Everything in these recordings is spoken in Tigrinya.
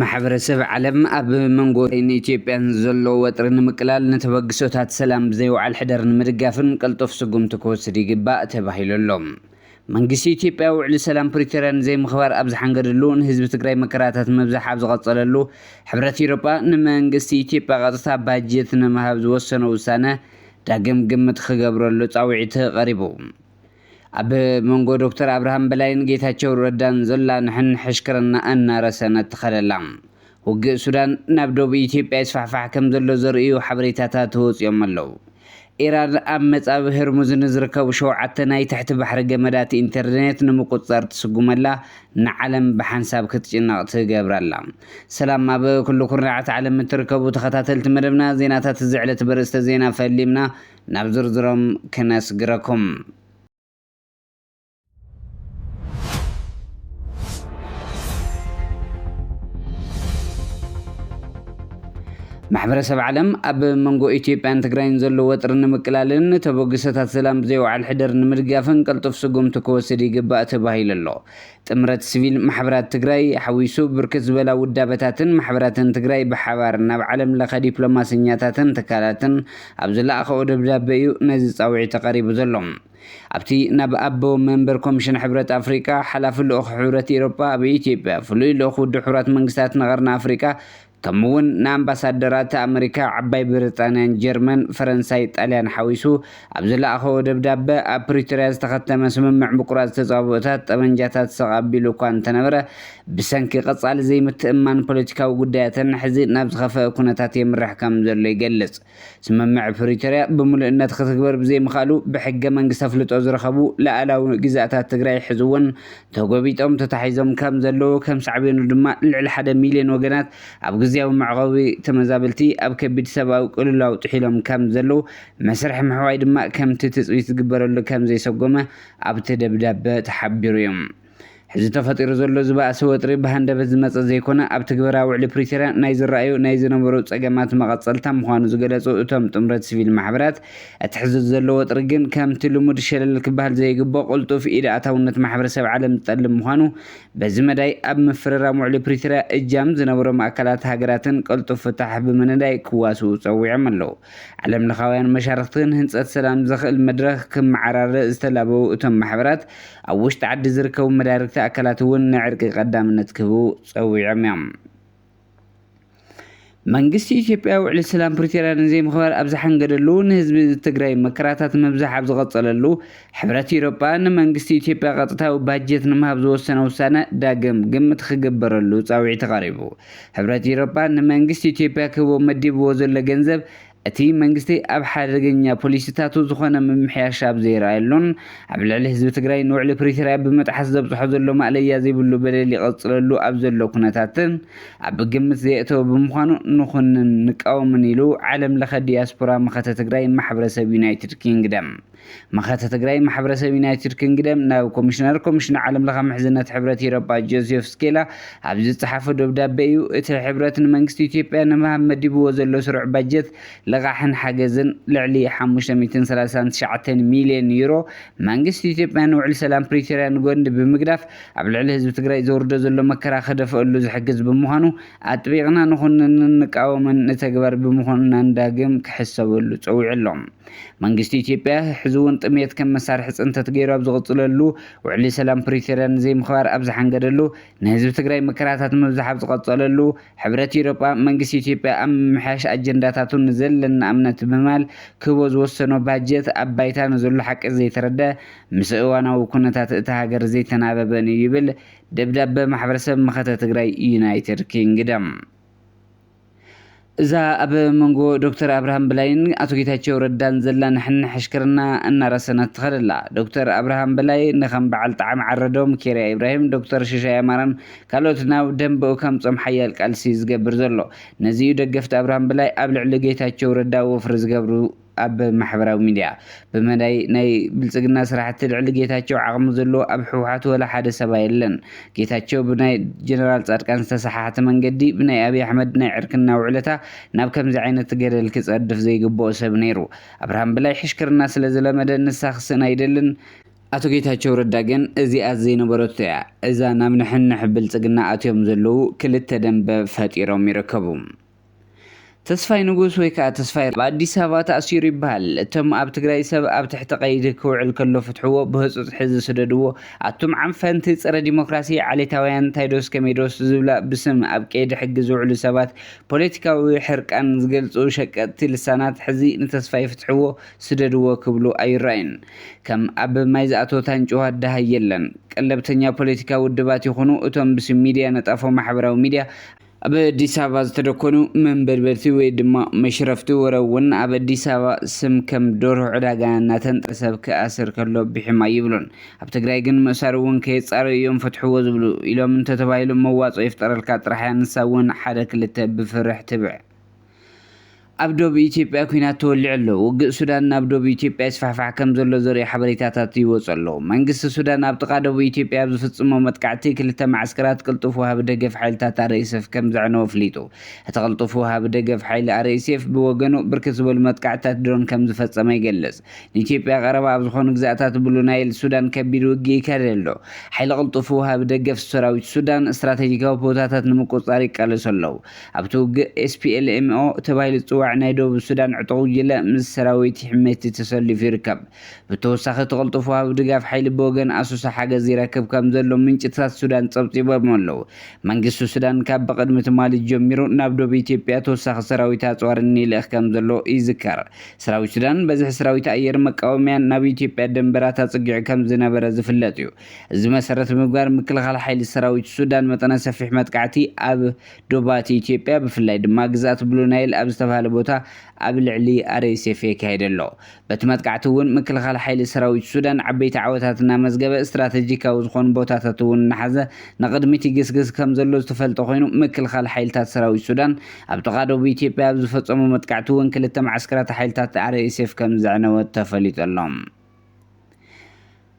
ማሕበረሰብ ዓለም ኣብ መንጎ ኢትዮጵያን ዘሎ ወጥሪ ንምቅላል ንተበግሶታት ሰላም ብዘይወዓል ሕደር ንምድጋፍን ቅልጡፍ ስጉምቲ ክወስድ ይግባእ ተባሂሉ ኣሎ። መንግስቲ ኢትዮጵያ ውዕሊ ሰላም ፕሪቶርያ ንዘይምኽባር ኣብ ዝሓንገደሉ፣ ንህዝቢ ትግራይ መከራታት ምብዛሕ ኣብ ዝቐፀለሉ፣ ሕብረት ኢሮጳ ንመንግስቲ ኢትዮጵያ ቀጥታ ባጀት ንምሃብ ዝወሰኖ ውሳነ ዳግም ግምት ክገብረሉ ፃውዒት ቐሪቡ። ኣብ መንጎ ዶክተር ኣብርሃም በላይን ጌታቸው ረዳን ዘላ ንሕንሕሽክርና እናረሰነት ትኸደላ። ውግእ ሱዳን ናብ ዶብ ኢትዮጵያ ይስፋሕፋሕ ከምዘሎ ዘርእዩ ሓበሬታታት ወጺኦም ኣለው። ኢራን ኣብ መጻብብ ህርሙዝ ንዝርከቡ ሸውዓተ ናይ ትሕቲ ባሕሪ ገመዳት ኢንተርኔት ንምቁጽጻር ትስጉመላ ንዓለም ብሓንሳብ ክትጭነቕ ትገብራ ኣላ። ሰላም ኣብ ኩሉ ኩርናዓት ዓለም እትርከቡ ተኸታተልቲ መደብና ዜናታት እዚ ዕለት በርእስተ ዜና ፈሊምና ናብ ዝርዝሮም ክነስግረኩም። ማሕበረሰብ ዓለም ኣብ መንጎ ኢትዮጵያን ትግራይን ዘሎ ወጥሪ ንምቅላልን ንተበግሶታት ሰላም ብዘይወዓል ሕደር ንምድጋፍን ቀልጡፍ ስጉምቲ ክወስድ ይግባእ ተባሂሉ ኣሎ። ጥምረት ሲቪል ማሕበራት ትግራይ ሓዊሱ ብርክት ዝበላ ውዳበታትን ማሕበራትን ትግራይ ብሓባር ናብ ዓለም ለኸ ዲፕሎማሰኛታትን ትካላትን ኣብ ዝለኣኸኦ ደብዳበ እዩ ነዚ ፃውዒት ተቐሪቡ ዘሎ። ኣብቲ ናብ ኣቦ መንበር ኮሚሽን ሕብረት ኣፍሪቃ፣ ሓላፊ ልኡኽ ሕብረት ኢሮጳ ኣብ ኢትዮጵያ፣ ፍሉይ ልኡኽ ውድብ ሕቡራት መንግስታት ንቐርኒ ኣፍሪቃ፣ ከምኡ'ውን ንኣምባሳደራት ኣመሪካ፣ ዓባይ ብሪጣንያን ጀርመን፣ ፈረንሳይ፣ ጣልያን ሓዊሱ ኣብ ዝለኣኸዎ ደብዳበ፣ ኣብ ፕሪቶርያ ዝተኸተመ ስምምዕ ምቁራጽ ተጻብኦታት ጠበንጃታት ስቕ ኣቢሉ እኳ እንተነበረ፣ ብሰንኪ ቀጻሊ ዘይምትእምማን ፖለቲካዊ ጉዳያተን፣ ሕዚ ናብ ዝኸፈኣ ኩነታት የምርሕ ከምዘሎ ይገልጽ። ስምምዕ ፕሪቶርያ ብምሉእነት ክትግበር ብዘይምኽኣሉ ብሕገ መንግስቲ ኣፍልጦ ዝረኸቡ ልኣላዊ ግዝኣታት ትግራይ ሕዚ እውን ተጎቢጦም ተታሒዞም ከም ዘለዉ ከም ሳዕቤኑ ድማ ልዕሊ ሓደ ሚልዮን ወገናት ኣብ ግዝያዊ መዕቖቢ ተመዛበልቲ ኣብ ከቢድ ሰብኣዊ ቅልውላው ጥሒሎም ከም ዘለዉ መስርሕ ምሕዋይ ድማ ከምቲ ትፅቢት ዝግበረሉ ከም ዘይሰጎመ ኣብቲ ደብዳበ ተሓቢሩ እዩ። ሕዚ ተፈጢሩ ዘሎ ዝባእሲ ወጥሪ ብሃንደበት ዝመፀ ዘይኮነ ኣብ ትግበራ ውዕሊ ፕሪቶርያ ናይ ዝረኣዩ ናይ ዝነበሩ ፀገማት መቐፀልታ ምዃኑ ዝገለፁ እቶም ጥምረት ስቪል ማሕበራት እቲ ሕዚ ዘሎ ወጥሪ ግን ከምቲ ልሙድ ሸለል ክበሃል ዘይግቦ ቅልጡፍ ኢድ ኣእታውነት ማሕበረሰብ ዓለም ዝጠልብ ምዃኑ በዚ መዳይ ኣብ ምፍርራም ውዕሊ ፕሪቶርያ እጃም ዝነበሮም ኣካላት ሃገራትን ቅልጡፍ ፍታሕ ብምንዳይ ክዋስኡ ፀዊዖም ኣለው። ዓለምለኻውያን መሻርኽቲ ንህንፀት ሰላም ዘኽእል መድረኽ ክመዓራረ ዝተላበዉ እቶም ማሕበራት፣ ኣብ ውሽጢ ዓዲ ዝርከቡ መዳርግቲ ኣካላት እውን ንዕርቂ ቀዳምነት ክህቡ ፀዊዖም እዮም። መንግስቲ ኢትዮጵያ ውዕሊ ሰላም ፕሪቶርያ ንዘይምኽባር ኣብ ዝሓንገደሉ፣ ንህዝቢ ትግራይ መከራታት ምብዛሕ ኣብ ዝቐፀለሉ፣ ሕብረት ኢሮጳ ንመንግስቲ ኢትዮጵያ ቀጥታዊ ባጀት ንምሃብ ዝወሰነ ውሳነ ዳግም ግምት ኽግበረሉ ጻውዒት ቐሪቡ። ሕብረት ኢሮጳ ንመንግስቲ ኢትዮጵያ ክህቦ መዲብዎ ዘሎ ገንዘብ እቲ መንግስቲ ኣብ ሓደገኛ ፖሊሲታቱ ዝኾነ ምምሕያሽ ኣብ ዘይረኣየሉን ኣብ ልዕሊ ህዝቢ ትግራይ ንውዕሊ ፕሪቶርያ ብምጥሓስ ዘብፅሖ ዘሎ ማእለያ ዘይብሉ በደል ይቕፅለሉ ኣብ ዘሎ ኩነታት ኣብ ግምት ዘየእተወ ብምዃኑ ንኹንን ንቃወምን ኢሉ ዓለም ለኸ ዲያስፖራ መኸተ ትግራይ ማሕበረሰብ ዩናይትድ ኪንግደም መኸተ ትግራይ ማሕበረሰብ ዩናይትድ ክንግደም ናብ ኮሚሽነር ኮሚሽን ዓለም ለኸ ምሕዝነት ሕብረት ኢሮጳ ጆሴፍ ስኬላ ኣብ ዝጸሓፎ ደብዳቤ እዩ። እቲ ሕብረት ንመንግስቲ ኢትዮጵያ ንምሃብ መዲብዎ ዘሎ ስሩዕ ባጀት ልቓሕን ሓገዝን ልዕሊ ሓሙሽተ ሚእትን ሰላሳን ትሽዓተን ሚልዮን ዩሮ መንግስቲ ኢትዮጵያ ንውዕሊ ሰላም ፕሪቶርያ ንጎኒ ብምግዳፍ ኣብ ልዕሊ ህዝቢ ትግራይ ዘውርዶ ዘሎ መከራ ክደፈኣሉ ዝሕግዝ ብምዃኑ ኣጥቢቕና ንኹንንን ንቃወምን ንተግባር ብምኹንናን ዳግም ክሕሰበሉ ጸዊዑ ኣሎ። መንግስቲ ኢትዮጵያ ሕዚ'ውን ጥምየት ከም መሳርሒ ፅንተት ገይሩ ኣብ ዝቕፅለሉ፣ ውዕሊ ሰላም ፕሪቶርያ ንዘይምኽባር ኣብ ዝሓንገደሉ፣ ንህዝቢ ትግራይ መከራታት ምብዛሕ ኣብ ዝቐፀለሉ፣ ሕብረት ኢሮጳ መንግስቲ ኢትዮጵያ ኣብ ምምሕያሽ ኣጀንዳታቱ ንዘለና እምነት ብማል ክህቦ ዝወሰኖ ባጀት ኣብ ባይታ ንዘሎ ሓቂ ዘይተረድኣ ምስ እዋናዊ ኩነታት እታ ሃገር ዘይተናበበን እዩ ይብል ደብዳበ ማሕበረሰብ መኸተ ትግራይ ዩናይትድ ኪንግደም። እዛ ኣብ መንጎ ዶክተር ኣብርሃም በላይን ኣቶ ጌታቸው ረዳን ዘላ ንሕንሕ ዕሽክርና እናረሰነት ትኸድ ኣላ። ዶክተር ኣብርሃም በላይ ንከም በዓል ጠዓመ ዓረዶም፣ ኬርያ ኢብራሂም፣ ዶክተር ሽሻይ ኣማረን ካልኦትን ኣብ ደምበኡ ከምጾም ሓያል ቃልሲ ዝገብር ዘሎ። ነዚ'ዩ ደገፍቲ ኣብርሃም በላይ ኣብ ልዕሊ ጌታቸው ረዳ ወፍሪ ዝገብሩ። ኣብ ማሕበራዊ ሚድያ ብመዳይ ናይ ብልፅግና ስራሕቲ ልዕሊ ጌታቸው ዓቅሚ ዘለዎ ኣብ ህውሓት ወላ ሓደ ሰባ የለን ጌታቸው ብናይ ጀነራል ፃድቃን ዝተሰሓሓተ መንገዲ ብናይ ኣብይ ኣሕመድ ናይ ዕርክና ውዕለታ ናብ ከምዚ ዓይነት ገደል ክፀድፍ ዘይግበኦ ሰብ ነይሩ ኣብርሃም ብላይ ሕሽክርና ስለዝለመደ ንሳ ክስእን ኣይደልን ኣቶ ጌታቸው ረዳ ግን እዚኣስ ዘይነበረቶ እያ እዛ ናብ ንሕንሕ ብልፅግና ኣትዮም ዘለው ክልተ ደንበ ፈጢሮም ይርከቡ። ተስፋይ ንጉስ ወይ ከኣ ተስፋይ ኣብ ኣዲስ ኣበባ ተኣሲሩ ይበሃል። እቶም ኣብ ትግራይ ሰብ ኣብ ትሕቲ ቀይዲ ክውዕል ከሎ ፍትሕዎ ብህጹጽ ሕዚ ስደድዎ። ኣቱም ዓንፈንቲ ጸረ ዲሞክራሲ ዓሌታውያን ታይዶስ ከመይዶስ ዝብላ ብስም ኣብ ቀይዲ ሕጊ ዝውዕሉ ሰባት ፖለቲካዊ ሕርቃን ዝገልጹ ሸቀጥቲ ልሳናት ሕዚ ንተስፋይ ፍትሕዎ ስደድዎ ክብሉ ኣይረኣዩን ከም ኣብ ማይ ዝኣተወ ታንጭዋ ደሃይ የለን ቀለብተኛ ፖለቲካ ውድባት ይኹኑ እቶም ብስም ሚድያ ነጣፎ ማሕበራዊ ሚድያ ኣብ ኣዲስ ኣበባ ዝተደኮኑ መንበድበድቲ ወይ ድማ መሽረፍቲ ወረ እውን ኣብ ኣዲስ ኣበባ ስም ከም ዶርሆ ዕዳጋ እናተንጠ ሰብ ክኣስር ከሎ ብሒም ኣይብሉን። ኣብ ትግራይ ግን ምእሳር እውን ከየፃረዩ እዮም ፈትሕዎ ዝብሉ። ኢሎም እንተተባሂሉ መዋፅኦ ይፍጠረልካ ጥራሕ እያ ንሳ እውን ሓደ ክልተ ብፍርሕ ትብዕ። ኣብ ዶብ ኢትዮጵያ ኲናት ተወሊዑ ኣሎ፣ ውግእ ሱዳን ናብ ዶብ ኢትዮጵያ ይስፋሕፋሕ ከም ዘሎ ዘርእዩ ሓበሬታታት ይወጹ ኣለዉ። መንግስቲ ሱዳን ኣብ ጥቓ ዶብ ኢትዮጵያ ኣብ ዝፍጽሞ መጥቃዕቲ ክልተ መዓስከራት ቅልጡፍ ወሃቢ ደገፍ ሓይልታት ኣርኤስኤፍ ከም ዘዕነወ ኣፍሊጡ። እቲ ቅልጡፍ ወሃቢ ደገፍ ሓይሊ ኣርኤስኤፍ ብወገኑ ብርክት ዝበሉ መጥቃዕትታት ድሮን ከም ዝፈጸመ ይገልጽ። ንኢትዮጵያ ቀረባ ኣብ ዝኾኑ ግዝኣታት ብሉ ናይል ሱዳን ከቢድ ውግእ ይካየድ ኣሎ። ሓይሊ ቅልጡፍ ወሃቢ ደገፍ ሰራዊት ሱዳን ስትራተጂካዊ ቦታታት ንምቁጽጻር ይቃለሱ ኣለዉ። ኣብቲ ውግእ ኤስፒኤልኤምኦ ተባሂሉ ዝጽዋዕ ናይ ደቡብ ሱዳን ዕጡቕ ጉጅለ ምስ ሰራዊት ሕሜቲ ተሰሊፉ ይርከብ። ብተወሳኺ እቲ ቅልጡፍ ወሃቢ ድጋፍ ሓይሊ ብወገን ኣሶሳ ሓገዝ ይረክብ ከም ዘሎ ምንጭታት ሱዳን ጸብጺቦም ኣለዉ። መንግስቲ ሱዳን ካብ ብቕድሚ ትማሊ ጀሚሩ ናብ ዶብ ኢትዮጵያ ተወሳኺ ሰራዊት ኣጽዋርን ይልእኽ ከም ዘሎ ይዝከር። ሰራዊት ሱዳን በዝሒ ሰራዊት ኣየር መቃወምያን ናብ ኢትዮጵያ ደንበራት ኣጸጊዑ ከም ዝነበረ ዝፍለጥ እዩ። እዚ መሰረት ብምግባር ምክልኻል ሓይሊ ሰራዊት ሱዳን መጠነ ሰፊሕ መጥቃዕቲ ኣብ ዶባት ኢትዮጵያ ብፍላይ ድማ ግዝኣት ብሉ ናይል ኣብ ዝተብሃለ ቦታ ኣብ ልዕሊ RSF የካይድ ኣሎ። በቲ መጥቃዕቲ እውን ምክልኻል ሓይሊ ሰራዊት ሱዳን ዓበይቲ ዓወታት እናመዝገበ ስትራተጂካዊ ዝኾኑ ቦታታት እውን እናሓዘ ንቕድሚት ይግስግስ ከምዘሎ ዝተፈልጠ ኮይኑ ምክልኻል ሓይልታት ሰራዊት ሱዳን ኣብ ጥቓ ዶብ ኢትዮጵያ ኣብ ዝፈፀሞ መጥቃዕቲ እውን ክልተ መዓስከራት ሓይልታት RSF ከምዘዕነወ ተፈሊጡ ኣሎ።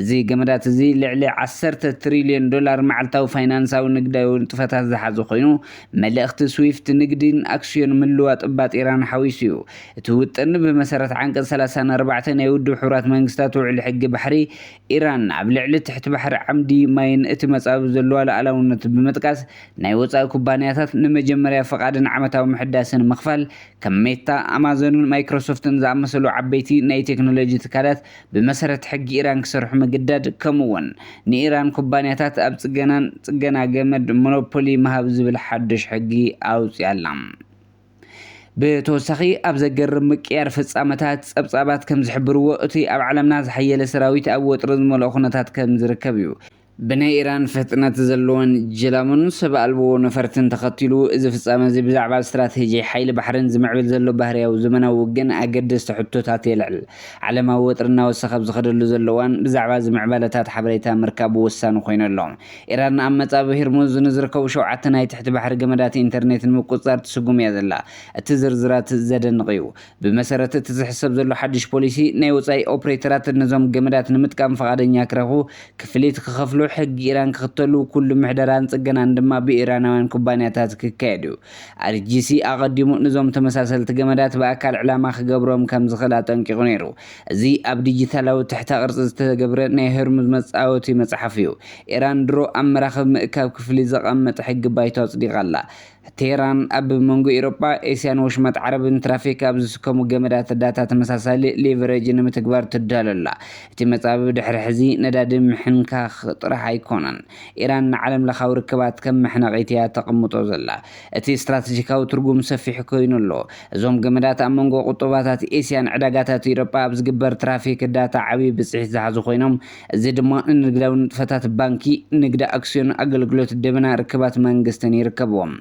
እዚ ገመዳት እዚ ልዕሊ ዓሰርተ ትሪልዮን ዶላር መዓልታዊ ፋይናንሳዊ ንግዳዊ ንጥፈታት ዝሓዙ ኮይኑ፣ መልእኽቲ ስዊፍት ንግዲን ኣክስዮን ምልዋጥ ባጤራን ሓዊሱ እዩ። እቲ ውጥን ብመሰረት ዓንቀጽ ሰላሳን ኣርባዕተን ናይ ውድብ ሕቡራት መንግስታት ውዕሊ ሕጊ ባሕሪ፣ ኢራን ኣብ ልዕሊ ትሕቲ ባሕሪ ዓምዲ ማይን እቲ መጻብብ ዘለዋ ሉኣላውነት ብምጥቃስ ናይ ወጻኢ ኩባንያታት ንመጀመርያ ፍቓድን ዓመታዊ ምሕዳስን ምኽፋል ከም ሜታ፣ ኣማዞንን ማይክሮሶፍትን ዝኣመሰሉ ዓበይቲ ናይ ቴክኖሎጂ ትካላት ብመሰረት ሕጊ ኢራን ክሰርሑ ምግዳድ፣ ከምኡ'ውን ንኢራን ኩባንያታት ኣብ ጽገናን ጽገና ገመድ ሞኖፖሊ ምሃብ ዝብል ሓድሽ ሕጊ ኣውጺኣ ኣላ። ብተወሳኺ ኣብ ዘገርም ምቅይያር ፍጻመታት፣ ጸብጻባት ከም ዝሕብርዎ እቲ ኣብ ዓለምና ዝሓየለ ሰራዊት ኣብ ወጥሪ ዝመልኦ ኩነታት ከም ዝርከብ እዩ። ብናይ ኢራን ፍጥነት ዘለወን ጀላቡን ሰብ ኣልቦ ነፈርትን ተኸቲሉ፣ እዚ ፍጻመ እዚ ብዛዕባ ስትራቴጂ ሓይሊ ባሕርን ዝምዕብል ዘሎ ባህርያዊ ዘመናዊ ውግእን ኣገደስቲ ሕቶታት የልዕል። ዓለማዊ ወጥሪ እናወሰኸ ኣብ ዝኸደሉ ዘሎ እዋን፣ ብዛዕባ እዚ ምዕባለታት ሓበሬታ ምርካብ ወሳኒ ኮይኑ ኣሎ። ኢራን ኣብ መጻብብ ሂርሙዝ ንዝርከቡ ሸውዓተ ናይ ትሕቲ ባሕሪ ገመዳት ኢንተርኔት ንምቁጽጻር ትስጉም እያ ዘላ። እቲ ዝርዝራት ዘደንቕ እዩ። ብመሰረት እቲ ዝሕሰብ ዘሎ ሓድሽ ፖሊሲ፣ ናይ ወጻኢ ኦፕሬተራት ነዞም ገመዳት ንምጥቃም ፍቓደኛ ክረኽቡ፣ ክፍሊት ክኸፍሉ፣ ሕጊ ኢራን ክኽተሉ፣ ኩሉ ምሕደራን ጽገናን ድማ ብኢራናውያን ኩባንያታት ክካየድ እዩ። RGC ኣቐዲሙ ንዞም ተመሳሰልቲ ገመዳት ብኣካል ዕላማ ክገብሮም ከም ዝኽእል ኣጠንቂቑ ነይሩ። እዚ ኣብ ዲጂታላዊ ትሕተ-ቅርጺ ዝተገብረ ናይ ሆርሙዝ መጻወቲ መጽሓፍ እዩ። ኢራን ድሮ ኣብ መራኽብ ምእካብ ክፍሊት ዘቐምጥ ሕጊ ባይቶ ኣጽዲቓ ኣላ። ቴህራን ኣብ መንጎ ኤውሮጳ፣ ኤስያን ወሽመጥ ዓረብን ትራፊክ ኣብ ዝስከሙ ገመዳት ዳታ ተመሳሳሊ ሊቨሬጅ ንምትግባር ትዳሎ ኣላ። እቲ መጻብብ ድሕሪ ሕዚ ነዳዲ ምሕንካኽ ጥራሕ ኣይኮነን። ኢራን ንዓለምለኻዊ ርክባት ከም መሕነቒት እያ ተቕምጦ ዘላ። እቲ ስትራተጂካዊ ትርጉም ሰፊሕ ኮይኑ ኣሎ። እዞም ገመዳት ኣብ መንጎ ቁጠባታት ኤስያን ዕዳጋታት ኤውሮጳ ኣብ ዝግበር ትራፊክ ዳታ ዓቢ ብጽሒት ዝሓዙ ኮይኖም፣ እዚ ድማ ንንግዳዊ ንጥፈታት ባንኪ፣ ንግዲ ኣክስዮን፣ ኣገልግሎት ደበና፣ ርክባት መንግስትን ይርከብዎም።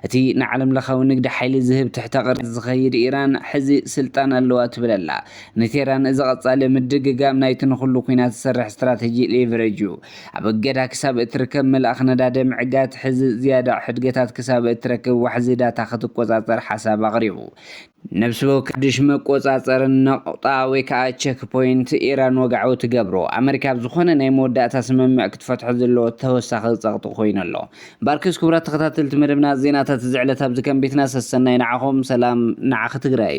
እቲ ንዓለምለኻዊ ንግዲ ሓይሊ ዝህብ ትሕተ ቅርጺ ዝኸይድ ኢራን ሕዚ ስልጣን ኣለዋ ትብል ኣላ። ንቴህራን እዚ ቀጻሊ ምድግጋም ናይቲ ንኹሉ ኲናት ዝሰርሕ ስትራተጂ ሌቨሬጅ እዩ። ኣብ እገዳ ክሳብ እትርከብ ምልኣኽ ነዳዲ ምዕጋት፣ ሕዚ ዝያዳ ሕድገታት ክሳብ እትረክብ ዋሕዚ ዳታ ክትቆጻጸር ሓሳብ ኣቕሪቡ። ነብሲ ወከድሽ መቆጻጸርን ነቁጣ ወይ ከኣ ቸክ ፖይንት ኢራን ወግዓዊ ትገብሮ። ኣመሪካ ኣብ ዝኾነ ናይ መወዳእታ ስምምዕ ክትፈትሖ ዘለዎ ተወሳኺ ጸቕጢ ኮይኑ ኣሎ። ባርክስ ክቡራት ተኸታተልቲ መደብና ዜናታት እዚ ዕለት ኣብዚ ከንቢትና ሰሰናዩ ንዓኹም ሰላም ንዓኺ ትግራይ።